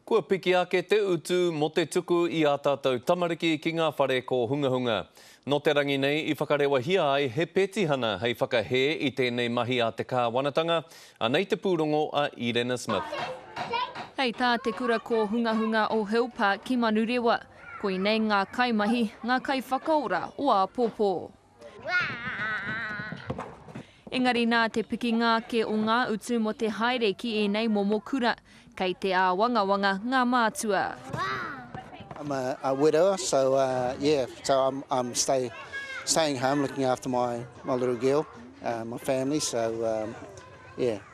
Kua piki ake te utu mō te tuku i ā tātou tamariki ki ngā whare kōhungahunga. Nō te rangi nei i whakarewahia ai he petihana hei whakahē i tēnei mahi a te kāwanatanga, anei te pūrongo a Irena Smith. Hei tā te Kura Kōhungahunga o Hill Park ki Manurewa, koinei ngā kaimahi, ngā kaiwhakaora o āpōpō. Engari nā te pikinga ake o ngā utu mō te haere ki ēnei momo kura, kei te āwangawanga ngā mātua.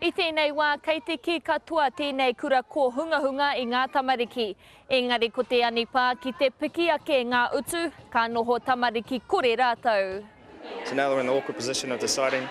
I tēnei wā, kei te kī katoa tēnei kura kōhungahunga i ngā tamariki. Engari ko te anipā ki te piki ake ngā utu, ka noho tamariki kore rātou. So now they're in the awkward position of deciding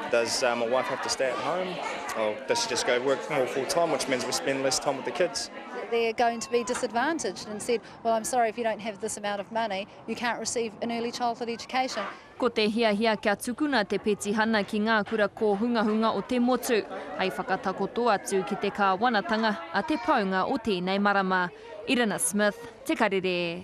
does my wife have to stay at home or does she just go work more full time which means we spend less time with the kids. They're going to be disadvantaged and said well I'm sorry if you don't have this amount of money you can't receive an early childhood education. Ko te hiahia kia tukuna te petihana ki ngā kura kōhungahunga o te motu, hei whakatakoto atu ki te kāwanatanga a te paunga o tēnei marama. Irina Smith, Te Karere.